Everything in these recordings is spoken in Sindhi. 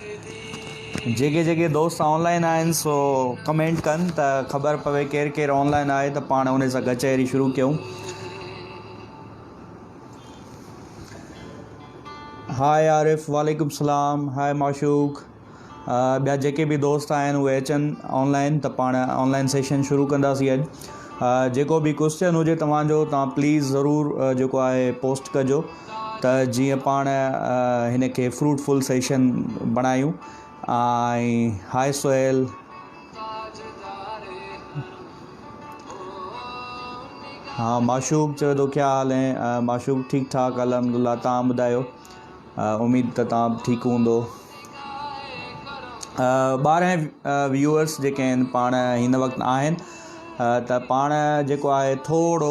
جيڪي جيڪي دوست آن لائين آهن سو ڪمينٽ ڪن ته خبر پوي ڪير ڪير آن لائين آهي ته پاڻ انهي سان ڪچهري شروع ڪيون هائي عارف وعليڪم السلام هائي معشوق ٻيا جيڪي به دوست آهن اهي اچن آن لائين ته پاڻ آن لائين سيشن شروع ڪنداسي اڄ جيڪو به ڪوشچن هجي توهان جو توهان پليز ضرور جيڪو آهي پوسٽ ڪجو ته جيئن پاڻ هن کي فروٽ فل سيشن بڻايون ۽ هاء سهيل ها معشوق چوي ٿو ڪيا حال هين معشوق ٺيڪ ٺاڪ الحمدلله تان ٻڌايو اميد ته تان به ٺيڪ هوندو ٻارهن ويوئرس جيڪي آهن پاڻ هن وقت آهن ته پاڻ جيڪو آهي ٿورو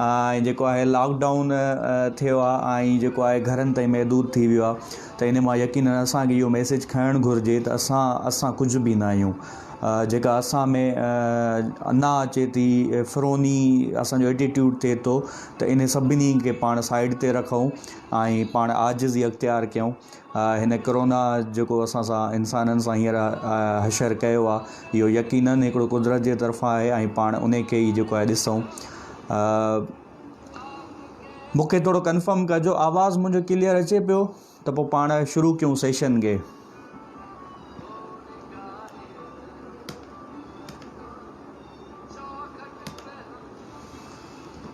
۽ جيڪو آهي لاڪ ڊائون ٿيو آهي ۽ جيڪو آهي گهرن تائين محدود ٿي ويو آهي ته ان مان يقين اسانکي اهو ميسيج کڻڻ گهرجي ته اسان اسان ڪجهه به نه آهيون جيڪا اسان ۾ انا اچي ٿي فروني اسانجو ايٽيٽيوڊ ٿئي ٿو ته ان سڀني کي پاڻ سائيڊ تي رکون ۽ پاڻ عاجزي اختيار ڪيون هن ڪرونا جيڪو اسان سان انسانن سان هينئر حشر ڪيو آهي اهو يقينن هڪڙو قدرت جي طرفان آهي ۽ پاڻ انهي کي ئي جيڪو آهي ڏسون مونکي ٿورو ڪنفرم ڪجو آواز منهنجو ڪليئر اچي پيو ته پوء پاڻ شروع ڪيون سيشن کي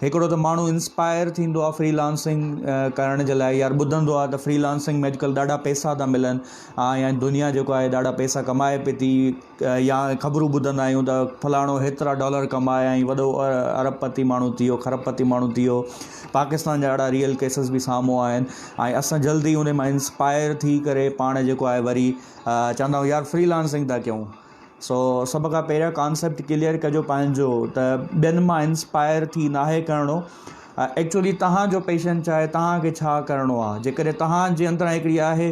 هڪڙو ته ماڻهو انسپائر ٿيندو آهي فري لانسنگ ڪرڻ جي لاء يار ٻڌندو آهي ته فري لانسنگ ۾ اڄڪلهه ڏاڍا پيسا ٿا ملن آ يا دنيا جيڪو آهي ڏاڍا پيسا ڪمائي پئي ٿي يا خبرون ٻڌندا آهيون ته فلاڻو هيترا ڊالر ڪمايا ۽ وڏو ارب پتي ماڻهو ٿي ويو خرب پتي ماڻهو ٿي ويو پاڪستان جا اهڙا ريئل ڪيسز به سامهون آيا آهن ۽ اسان جلدي ان مان انسپائر ٿي ڪري پاڻ جيڪو آهي وري چوندايار فري لانسنگ ٿا ڪيون سو سڀ کان پهريان ڪانسيپٽ ڪليئر ڪجو پنهنجو ته ٻين مان انسپائر ٿي ناهي ڪرڻو ايڪچولي تهانجو پيشن ڇا آهي تهانکي ڇا ڪرڻو آهي جيڪڏهن تهانجي اندران هڪڙي آهي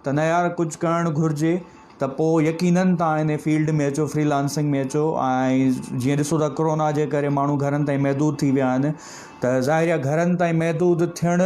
ته نه يار ڪجهه ڪرڻ گهرجي ته پوء يقينن تهان هن فيلڊ ۾ اچو فري لانسنگ ۾ اچو ۽ جيئن ڏسو ٿا ڪرونا جي ڪري ماڻهو گهرن تائين محدود ٿي ويا آهن ته ظاهري گهرن تائين محدود ٿيڻ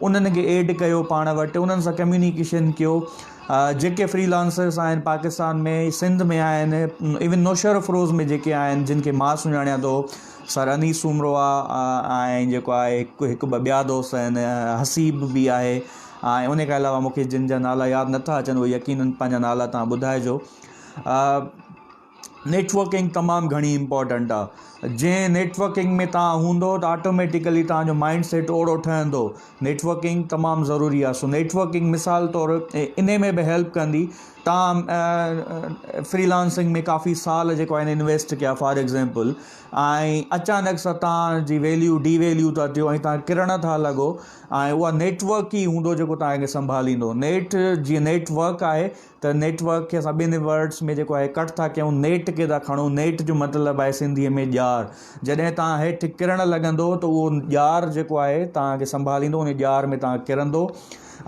انهن کي ايڊ ڪيو پاڻ وٽ انهن سان ڪميونيڪيشن ڪيو جيڪي فري لانسرس آهن پاڪستان ۾ سنڌ ۾ آهن ايون نوشهر افروز ۾ جيڪي آهن جن کي مان سڃاڻيان ٿو سر انيس سومرو آهي ۽ جيڪو آهي هڪ هڪ ٻه ٻيا دوست آهن حسيب بي آهي ۽ ان کان علاوه مونکي جن جا نالا ياد نٿا اچن اهي يقينن پنهنجا نالا تان ٻڌائجو نيٽ ورڪنگ تمام گهڻي امپورٽنٽ آ جنهن نيٽ ورڪنگ ۾ تان هوندو ته آٽوميٽيڪلي تان جو مائنڊ سيٽ اوڙو ٺهندو نيٽ ورڪنگ تمام ضروري آ سو نيٽ ورڪنگ مثال طور اني ۾ به هيلپ ڪندي تان فري لانسنگ ۾ ڪافي سال جيڪو آهن انويسٽ ڪيا فار ايگزامپل ۽ اچانڪ سا تان جي ويليو ڊي ويليو ٿا ٿيو ۽ تان ڪرڻ ٿا لڳو ۽ اها نيٽ ورڪ ئي هوندو جيڪو تان کي سنڀاليندو نيٽ جي نيٽ ورڪ آهي ته نيٽ ورڪ کي اسان ٻنهي ورڊس ۾ جيڪو اهي ڪٽ ٿا ڪيون نيٽ کي ٿا کڻون نيٽ جو مطلب آهي سنڌيء ۾ ڄار جڏهن تان هيٺ ڪرڻ لڳندو ته اهو ڄار جيڪو آهي تانکي سنڀاليندو ان ڄار ۾ تان ڪرندو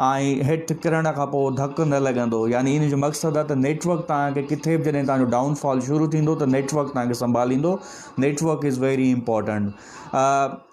۽ هيٺ ڪرڻ کان پوء ڌڪ نه لڳندو يعني ان جو مقصد آهي ته نيٽ ورڪ تانکي ڪٿي به جڏهن تانجو ڊائون فال شروع ٿيندو ته نيٽ ورڪ تانکي سنڀاليندو network is very important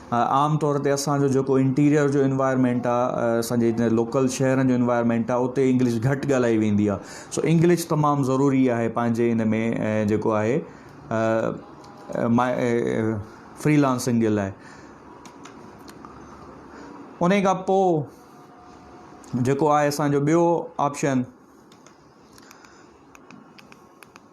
عام طور تي اسان جو جيڪو انٽيريئر جو انوائرمينٽ آ اسان جي جتي لوڪل شهرن جو انوائرمينٽ آ اتي انگلش گهٽ ڳالهائي ويندي آ سو انگلش تمام ضروري آهي پنهنجي ان ۾ جيڪو آهي فري لانسنگ جي لاء انهي کان پو جيڪو آهي اسان جو ٻيو آپشن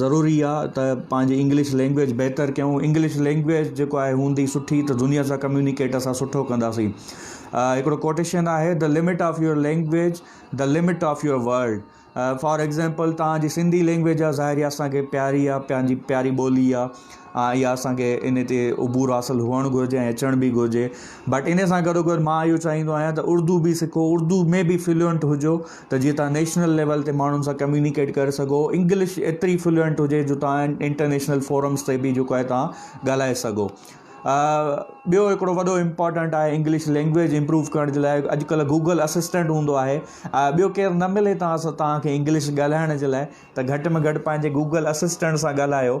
ضروري آ ته پنهنجي انگلش لينگويج بهتر ڪيون انگلش لينگويج جيڪو آهي هوندي سٺي ته دنيا سان ڪميونيڪيٽ اسان سٺو ڪنداسين هڪڙو ڪوٽيشن آهي the limit of your language the limit of your world for example تنهنجي سنڌي لينگويج آ ظاهري اسانکي پياري آ پنهنجي پياري ٻولي آ ۽ اها اسان کي ان تي عبور حاصل هئڻ گهرجي ۽ اچڻ به گهرجي بٽ ان سان گڏو گڏ مان اهو چاهيندو آهيان ته اردو به سکو اردو ۾ به فلوئنٽ هجو ته جيئن تان نيشنل ليول تي ماڻهن سان ڪميونيڪيٽ ڪري سگهو انگلش ايتري فلوئنٽ هجي جو تان انٽرنيشنل فورمس تي به جيڪو آهي تان ڳالهائي سگهو ٻيو هڪڙو وڏو امپورٽنٽ آهي انگلش لينگويج امپروو ڪرڻ جي لاء اڄڪلهه گوگل اسسٽنٽ هوندو آهي ٻيو کير نه ملي تان تان کي انگلش ڳالهائڻ جي لاء ته گهٽ ۾ گهٽ پنهنجي گوگل اسسٽنٽ سان ڳالهايو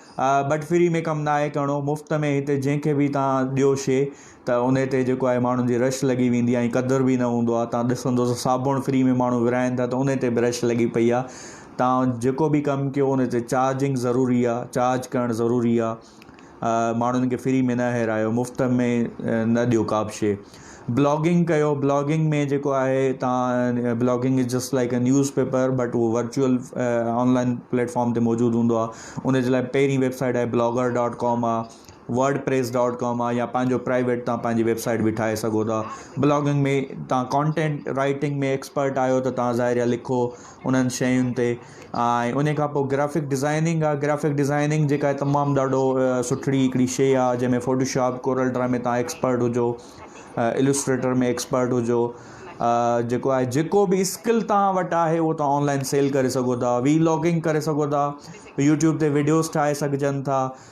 ٻٽ فري ۾ ڪم ناهي ڪرڻو مفت ۾ هتي جنهن کي به تان ڏيو شي ته ان تي جيڪو آهي ماڻهن جي رش لڳي ويندي آهي ۽ قدر به نه هوندو آهي تان ڏسندو ته صابڻ فري ۾ ماڻهو ورهائن ٿا ته ان تي به رش لڳي پئي آهي تان جيڪو به ڪم ڪيو ان تي چارجنگ ضروري آهي چارج ڪرڻ ضروري آهي ماڻهن کي فري ۾ نه هيرايو مفت ۾ نه ڏيو ڪا به شي بلاگنگ ڪيو بلاگنگ ۾ جيڪو آهي تان blogging is just like a newspaper but اهو ورچوئل آنلائن پليٽفارم تي موجود هوندو آ ان جي لاء پهرين ويبسائيٽ آهي بلاگر ڊاٽ ڪام آ ورڊ پريس ڊاٽ ڪام آ يا پنهنجو پرائيويٽ تان پنهنجي ويبسائيٽ به ٺاهي سگهو ٿا بلاگنگ ۾ تان ڪانٽينٽ رائيٽنگ ۾ ايڪسپرٽ آهيو ته تان ظاهر لکو انهن شين تي ۽ ان کان پوء گرافڪ ڊزائننگ آ گرافڪ ڊزائننگ جيڪا آهي تمام ڏاڍو سٺڙي هڪڙي شي آ جنهن ۾ فوٽو شاپ ڪورل ڊرا ۾ تان ايڪسپرٽ هجو السٽريٽر ۾ ايڪسپرٽ هجو جيڪو آهي جيڪو به اسڪل تان وٽ آهي هو تان آنلائن سيل ڪري سگهو ٿا وي لاگنگ ڪري سگهو ٿا يوٽيوب تي ويڊيوز ٺاهي سگهجن ٿا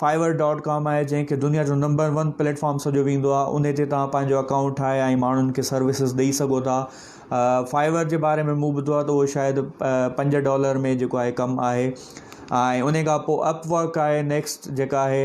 Fiverr ڊاٽ ڪام آهي جنهن کي دنيا جو نمبر ون پليٽ فارم سڏيو ويندو آهي انهي تي توهان پنهنجو اڪائونٽ ٺاهي ۽ ماڻهن کي سروسز ڏئي سگهو ٿا Fiverr جي باري ۾ مون ٻڌو آهي ته اهو شايد پنج ڊالر ۾ جيڪو آهي ڪم آهي ۽ انهي کان پوء اپ ورڪ آهي نيڪسٽ جيڪا آهي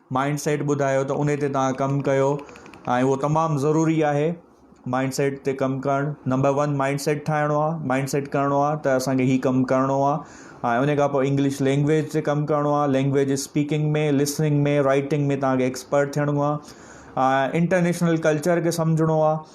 مائنڊ سيٽ ٻڌايو ته انهي تي توهان ڪم ڪيو ۽ اهو تمام ضروري آهي مائنڊ سيٽ تي ڪم ڪرڻ نمبر ون مائنڊ سيٽ ٺاهڻو آهي مائنڊ سيٽ ڪرڻو آهي ته اسان کي هي ڪم ڪرڻو آهي ۽ انهي کان پوء انگلش لينگويج تي ڪم ڪرڻو آهي لينگويج اسپيڪنگ ۾ لسننگ ۾ رائيٽنگ ۾ توهان کي ايڪسپرٽ ٿيڻو آهي انٽرنيشنل ڪلچر کي سمجهڻو آهي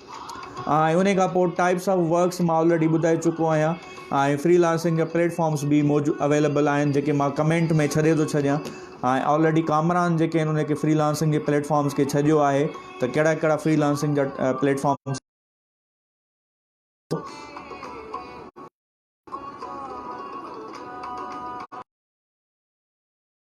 انهي کان پوء ٽائپس آف ورڪس مان آلريڊي ٻڌائي چڪو آهيان ۽ فري لانسنگ جا پليٽ فارمس به موجود اويليبل آهن جيڪي مان ڪمينٽ ۾ ڇڏي ٿو ڇڏيان ۽ آلريڊي ڪامران جيڪي آهن انهي کي فري لانسنگ جي پليٽ فارمس کي ڇڏيو آهي ته ڪهڙا ڪهڙا فري لانسنگ جا پليٽ فارمس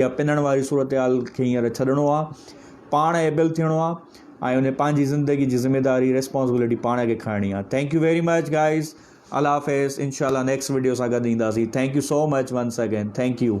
اها پنڻ واري صورتحال کي هينئر ڇڏڻو آ پاڻ ايبل ٿيڻو آ ۽ ان پنهنجي زندگي جي ذميداري ريسپانسبلٽي پاڻ کي کڻڻي آ thank you very much guys الله حافظ انشاء الله نيڪسٽ ويڊيو سان گڏ اينداسي thank you so much once again thank U